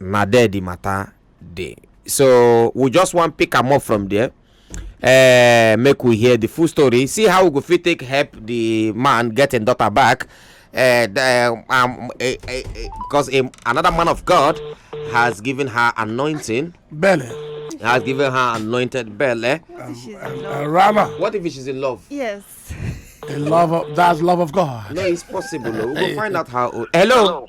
na there the matter dey so we just wan pick am up from there uh, make we hear the full story see how we go fit take help the man get im daughter back uh, the, um, uh, uh, because um, another man of god has given her anointing belly has given her anointed belly um, um, uh, rama what if she's in love yes in love of, that's love of god no it's possible we'll go find out how hello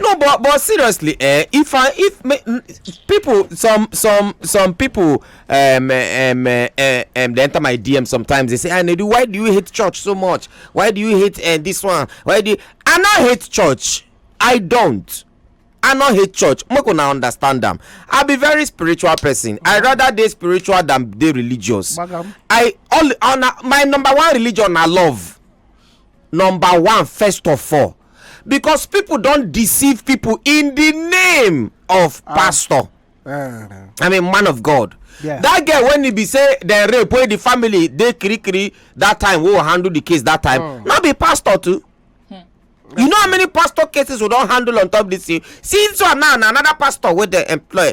no but but seriously eh if i if me, people some some some people um eh, um eh, eh, um they enter my dm sometimes they say ah nedu why do you hate church so much why do you hate uh, this one why do you... i not hate church i don't i not hate church make una understand am i be very spiritual person i rather dey spiritual than dey religious Bagam. i all on my number one religion na love number one first of all because people don deceive people in the name of ah. pastor eh. i mean man of god that girl when he be say dem rape wey the family dey kirikiri that time wey handle the case that time hmm. no be pastor too hmm. you know how many pastor cases we don handle on top this thing since one now na another pastor wey dem employ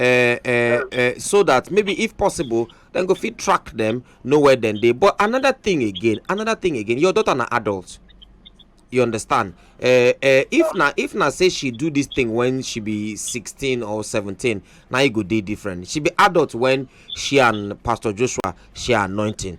uh, uh, uh, so that maybe if possible then go fit track them know where then they. but another thing again another thing again your daughter an adult you understand uh, uh, if na if na say she do this thing when she be 16 or 17 now e go dey different she be adult when she and pastor joshua share anointing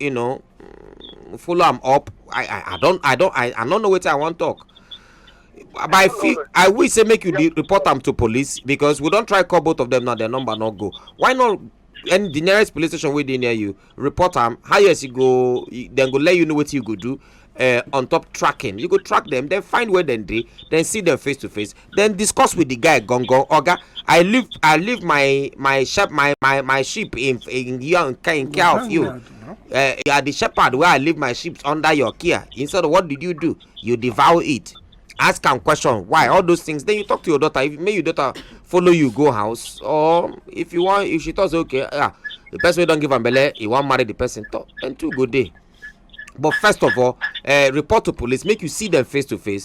you know follow am up i i i don i don i i no know wetin i wan talk but i feel i wish say make you dey report am to police because we don try call both of them now their number no go why not and the nearest police station wey dey near you report am highest you go dem go let you know wetin you go do uh, on top tracking you go track them then find where dem dey then see them face to face then discuss with the guy gongo oga i leave i leave my my shep my my my sheep in in your in care in care of you uh, you are the shepherd where i leave my sheep under your care instead of what did you do you devour it ask am question why all those things then you talk to your daughter if make your daughter follow you go house or if you wan if she talk say okay ah the person wey don give am belle he wan marry the person talk then two go dey but first of all uh, report to police make you see them face to face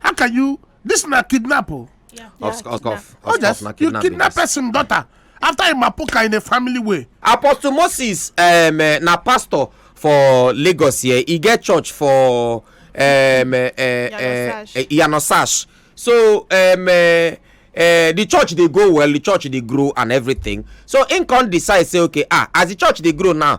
how can you this na kidnap o. Oh. Yeah. Off, yeah, off, off, oh, yes, off, you kidnap person daughter after him apoka in a family way. apostle moses um, uh, na pastor for lagos here he get church for um, uh, uh, yanosash so um, uh, uh, the church dey go well the church dey grow and everything so im come decide say okay ah as the church dey grow now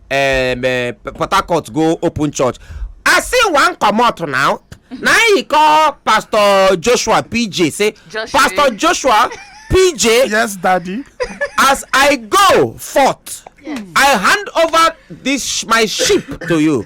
um, eh, port harcourt go open church i see one comot now na he call pastor joshua pj say Joshua. pastor joshua pj yes daddy as i go forth i hand over this sh- my sheep to you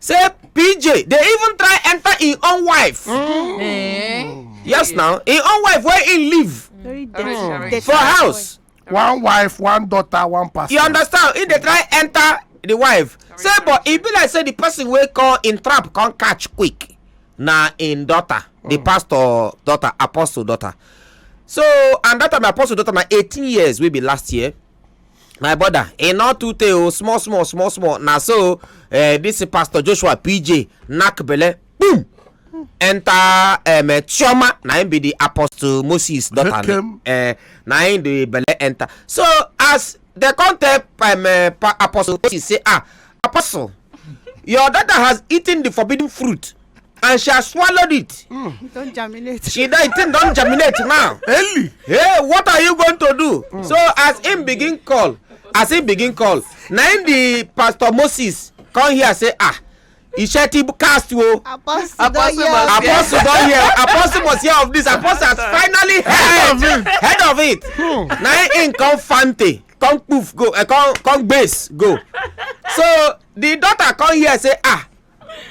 say pj dey even try enter im own wife mm. eh? yes now im own wife wey im leave mm. for house one wife one daughter one pastor you understand im dey try enter the wife say but e be like say the person wey call im trap come catch quick na im daughter the mm. pastor daughter apostle daughter so and that time apostle daughter na eighteen years wey be last year my brother e no too tey o small small small small na so eh, this pastor joshua pj knack belle boom enter um, eh, chioma na him be the apostle moses daughter uh, na him the belle enter so as the come tell um, uh, apostle moses say ah apostle your daughter has eaten the forbidden fruit and she has swallowed it. Mm. Don't germinate. She that thing don't germinate now. Ellie. Hey, what are you going to do? Mm. So as him begin call, as him begin call, na him the pastor Moses come here say ah. iṣẹ́ tí cast wo apostle don hear apostle don hear apostle must hear of this apostle has finally heard heard of it hmm. na him come fante come poof go uh, come come base go so the daughter come hear say ah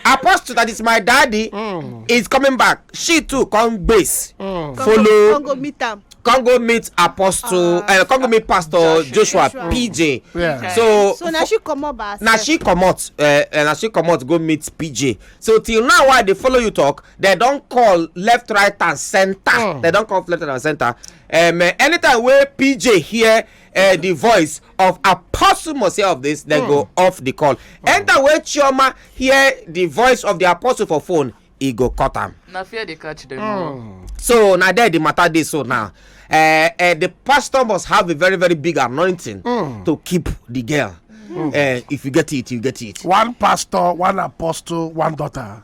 apostle that is my daddy mm. is coming back she too come base mm. follow come go meet am come go meet apostle uh, uh, come go meet pastor joshua, joshua pj yeah. okay. so so na she comot by herself na she comot uh, eh, eh, na she comot go meet pj so till now why i dey follow you talk dem don call left right and centre mm. dem don call left right and centre um, uh, anytime wey pj hear uh, the voice of apostle must hear of this then go off the call enter wey chioma hear the voice of the apostle for phone e go cut am na fear dey catch dem o. so na there the matter dey so now uh, uh, the pastor must have a very very big anointing mm. to keep the girl mm. uh, if you get it you get it one pastor one apostle one daughter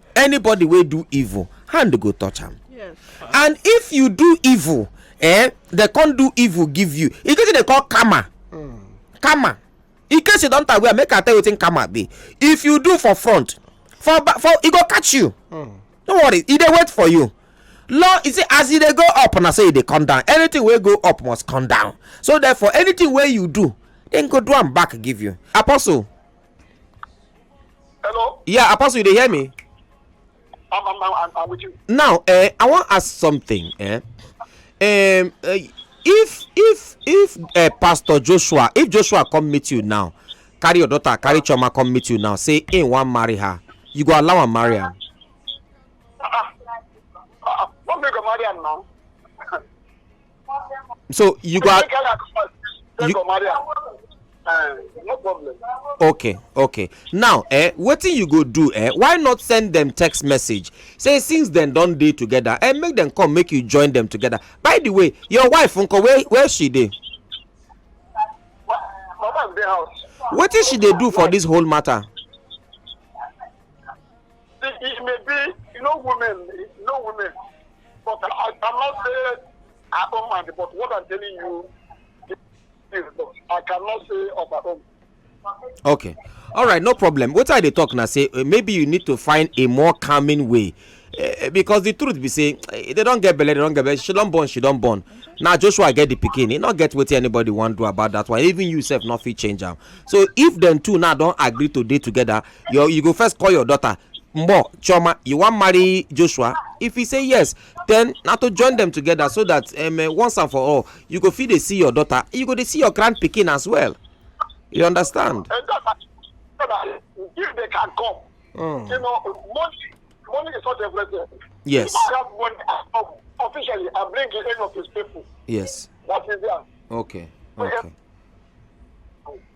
anybody wey do evil hand go touch am yes. and if you do evil eh they come do evil give you e get wetin dey call karma mm. karma in case you don tag well make i tell you wetin karma be if you do for front for back for e go catch you mm. no worry e dey wait for you law you see as e dey go up na so e dey come down anything wey go up must come down so therefore anything wey you do dem go do am back give you apostle Hello? Yeah, Apostle, you dey hear me? I'm, I'm, I'm, I'm with you. Now, eh, I wan ask something. Eh? Um, uh, if if if uh, Pastor Joshua, if Joshua come meet you now, carry your daughter, carry Choma come meet you now, say he wan marry her, you go allow am marry am. Uh, uh, uh, what make I marry am now? so you go. you uh, no problem. okay okay now eh, wetin you go do eh, why not send dem text message say since dem don dey together eh, make dem come make you join dem together by the way your wife nko where where she dey. my wife dey house. wetin she dey do for dis whole matter. See, it may be, you know, women, you know, women. But I, I'm not saying I don't mind, but what I'm telling you is that I cannot say of my own. Okay. All right, no problem. What are they talking? I say eh, maybe you need to find a more calming way. Uh, because the truth be say eh, they don't get belle they don't get belle she don't born she don't born now joshua get the pikin he not get wetin anybody wan do about that one even you sef no fit change am so if dem two now don agree to dey together you you go first call your daughter mbo choma you wan marry joshua if he say yes then na to join them together so that um, uh, once and for all you go fit dey see your daughter you go dey see your grand pikin as well you understand. if they can come mm. you know money money is not everything. yes if i have money um, officially i bring the end of his people. yes that is there. okay okay.